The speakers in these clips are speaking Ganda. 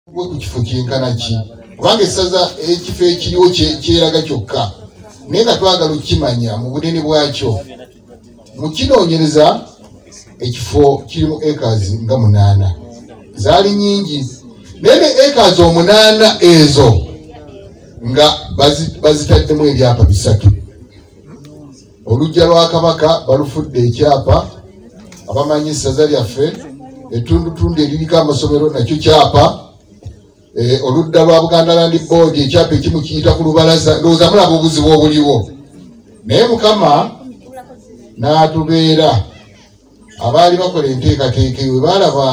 gwe ku kifo kyenkana ki kubanga essaza ekifo ekiriwo kyeraga kyokka naye nga twagala okukimanya mu bunene bwakyo mu kinoonyereza ekifo kirimu acres nga munaana zaali nyingi naye ne acres omunaana ezo nga bazitaddemu ebyapa bisatu oluggya lwa kabaka balufudde ekyapa abamanyi essaza lyaffe ettundutundu eririko amasomero nakyo kyapa eh, oludda lwa buganda landi boodi ekyapa ekimu kiyita ku lubalaza ndowooza mulaba obuzibu obuliwo naye mukama n'atubeera abaali bakola enteekateeka ewe baalaba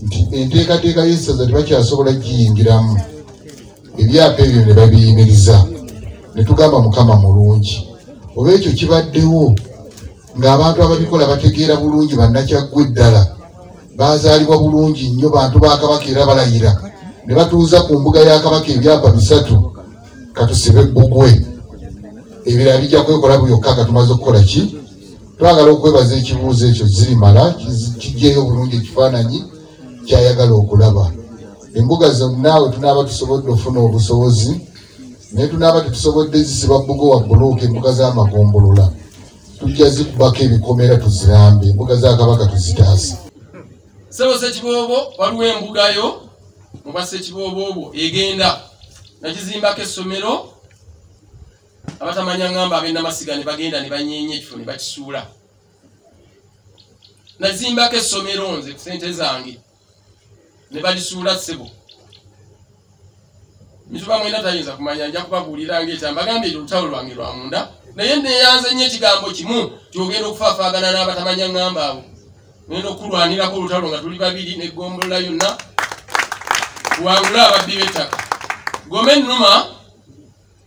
nti enteekateeka y'essaza tebakyasobola giyingiramu ebyapa ebyo ne babiyimiriza ne tugamba mukama mulungi oba ekyo kibaddewo ng'abantu ababikola bategeera bulungi bannakyaggwe ddala baazaalibwa bulungi nnyo bantu ba kabaka era balayira ne batuuza ku mbuga ya kabaka ebyapa bisatu katusibe bbugwe ebirala bijja kwekola buyokka nga tumaze okukola ki twagala okwebaza ekibuuzo ekyo zirimala kijjeyo obulungi ekifaananyi kyayagala okulaba embuga zonna we tunaaba tusobodde ofuna obusobozi naye tunaaba tetusobodde zisiba bbugo wa buluuka embuga z'amagombolola tujja zikubako ebikomera tuzirambe embuga za kabaka tuzitaase sebo sekiboobo waliwo embugayo muba sekiboobo obwo egenda nagizimbako essomero abatamanya ngamba abenamasiga ne bagenda ne banyeenya ekifo ne bakisuula nazimbako essomero nze ku sente zange ne balisuula ssebo mituba mwena tayinza kumanya nja kubabuulira ngaekya mbagambye ekyo olutalo lwange lwa munda naye neyanze nnyo ekigambo kimu tiogenda okufaafaagana n'abatamanya ngamba abo nenda okukulwanirako olutalo nga tuli babiri negombolola yonna wangula ababbi b'ettaka gome nnuma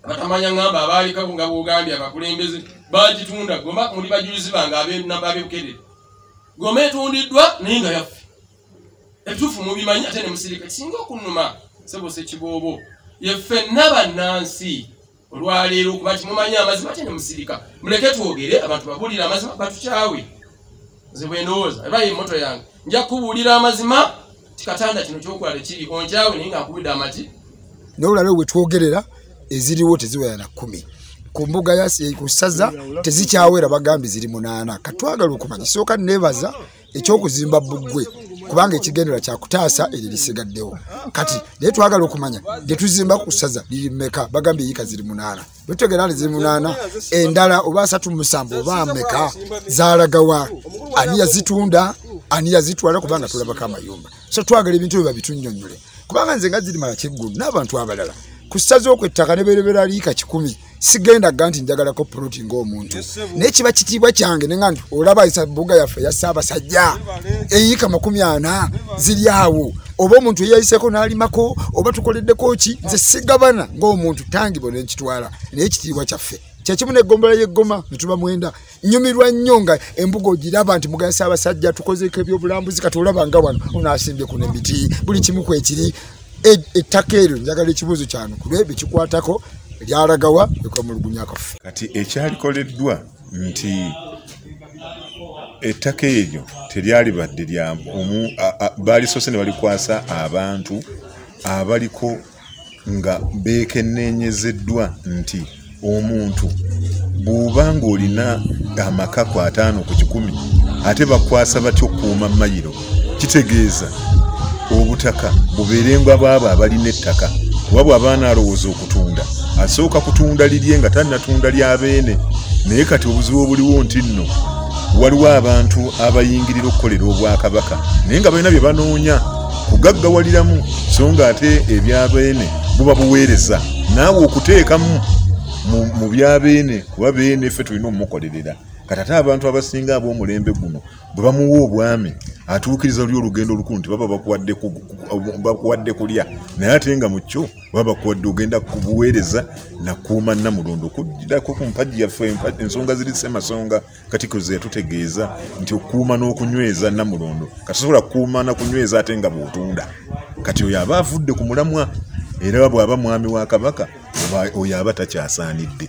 abatamanya ngamba abaalikabu nga bwogambye abakulembeze bagitunda goma muli bajulizi bange abenamba abebukedere goma etundiddwa naye nga yaffe ebituufu mubimanyi ate ne musirika kisinga okunuma sebose kiboobo yeffenna bannansi olwaleero okuba kimumanyi amazima ate ne musirika muleke twogere abantu babulire amazima batukyawe nze bwendowooza eba ye moto yange nja kubuulira amazima kikatanda kino kyokola tekiri onkyawe naye nga nkubidde amaki naye olabe wetwogerera eziriwo teziwera na kumi ku mbuga eh, ku ssaza tezikyawera bagambye ziri munaana katwagala okumanya sooka neebaza ekyokuzimba buggwe kubanga ekigendera kyakutaasa eryo lisigaddewo kati naye twagala okumanya lyetuzimba ku ssaza liri meka bagambye yiika ziri munaana bwetegera ali zimunaana endala oba asatu musanvu oba ameka zalagawa ani yazitunda ani yazitwala kubanga tulabako amayumba so twagala ebintu bye babitunyonyole kubanga nze nga zirimala kiggulu n'abantu abalala ku ssaza okwo ettaka ne berebera liika kikumi sigenda ga nti njagalako poloti ngaomuntu naye kiba kitiibwa kyange nenga nti olaba isabuga yaffe ya ssaabasajja eyiika makumi ana ziri awo oba omuntu eyayiseko nalimako oba tukoleddeko ki nze sigabana ngaomuntu tangibwa nenkitwala naye ekitiibwa kyaffe kyekimu negombola yeggoma netuba mwenda nyumirwa nnyo nga embuga ogiraba nti mugayisa abasajja tukozeko ebyobulambuzi kati olaba nga wano onasimbye kuno emiti buli kimu kwekiri e, ettaka eryo njagala ekibuuzo kyano kulwebyo kikwatako lyalagawa ekwemulugunya kaffe kati ekyalikoleddwa nti ettaka eryo teryalibadde lya omu baalisoose ne balikwasa abantu abaliko nga beekenneenyezeddwa nti omuntu bw'oba ng'olina amakako ataano ku kikumi ate bakwasa batya okukuuma mayiro kitegeeza obutaka bubeerengwa baabo abalina ettaka kuba bw'aba anaalowooza okutunda asooka kutunda lirye nga tannatunda lya beene naye kati obuzibu obuliwo nti nno waliwo abantu abayingirira okukolera obwakabaka naye nga balina bye banoonya kugaggawaliramu so nga ate ebya beene buba buweereza naawe okuteekamu mu bya beene kuba beene ffe tulina omumukolerera kati ate abantu abasinga ab'omulembe guno bwe bamuwa obwami atuukiriza oli olugendo olukulu nti baba bakuwadde kulya naye ate nga mu kyo baba bakuwadde ogenda kubuweereza nakuuma namulondo okujjirako ku mpagi yaffe ensonga ziri semasonga katiko ze yatutegeeza nti okuuma n'okunyweza namulondo kati sobola kukuuma na kunyweza ate nga bwotunda kati oyo aba avudde ku mulamwa era bw'aba mwami wa kabaka oyo aba takyasaanidde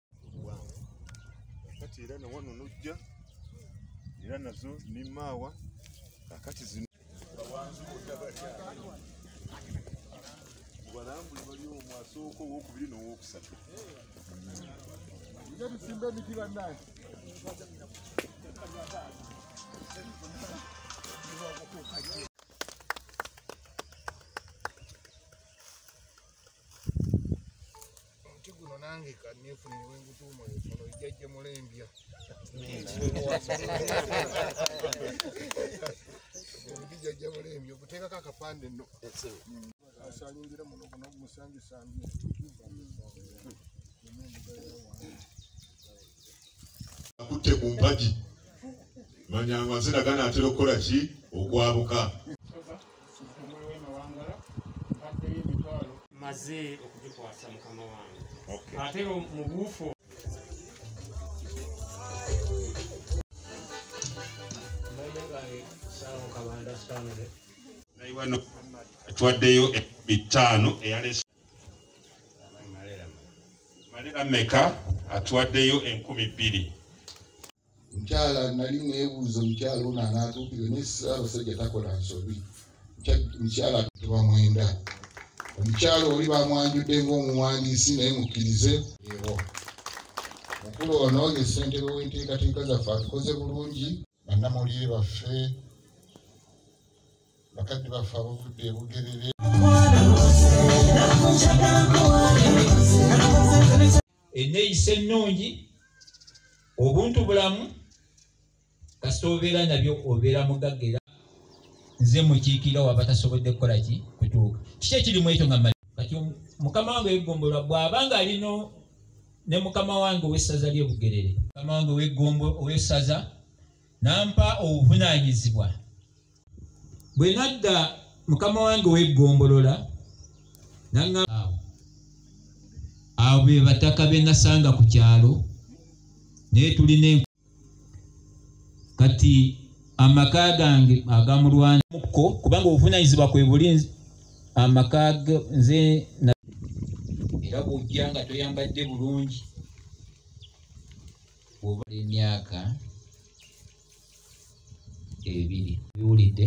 kati era nawano nojja era nazo nimaawa kakati zino balambuli bali omu asooka owokubiri nowokusatu nga tusimba emiti bannange omuti guno nange kanefunire wengutuuma ono ejjajja mulembya omuti jajja mulembya okuteekako akapande no asalingira muno guno gumusanjusambye akutte ku mpagi manyanga nziraga naatera okukola ki okwabuka maze okugikwasa mukama wange ate mu buufu twaddeyo ekumi ttaano eyalesa malera meka atwaddeyo enkumi bbiri mukyala nali nebuuza omukyala ono anatuukire naye abasajja takola nsobi mukyala tuba mwenda omukyala oli bamwanjudde ngaomuwandiisi naye mukkirize ewo mukulu ono ye ssentebe w'enteekateeka zaffe atukoze bulungi bannamawulire baffe bakadde baffe abavudde ebugerere eneyisa ennungi obuntu bulamu kasita obeera nabyo obeera mugagga era nze mukiikira waba tasobodde kukola ki kutuuka kiki ekirimu ekyo nga kati mukama wange wegombolola bw'aba nga alino ne mukama wange owessaza ly'ebugerere mukama wange owessaza nampa obuvunaanyizibwa bwe nadda mukama wange weggombolola naŋaawo abo be bataka be nasanga ku kyalo naye tulina enku kati amaka gange agamulwanamukko kubanga obuvunanyizibwa kwe buli amaka nze era bwojja nga toyambadde bulungi oba emyaka ebiri biwulidde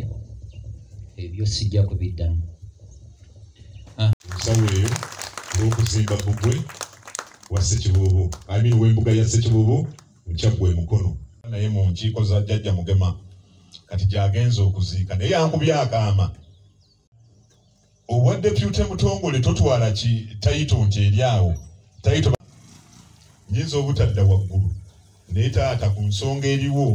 ebyo sijja kubiddamu ensawo ah. eyo olw'okuzimba bugwe wa sekibuubu amin w'embuga ya sekibuubu mukyaggwa emukono naye mu nkiiko za jjajja mugema kati gyagenza okuziika naye yankubye akaama obwa depute mutongole totwala ki tayito nti eri awo tayito nyinza obutadda waggulu naye taata ku nsonga eriwo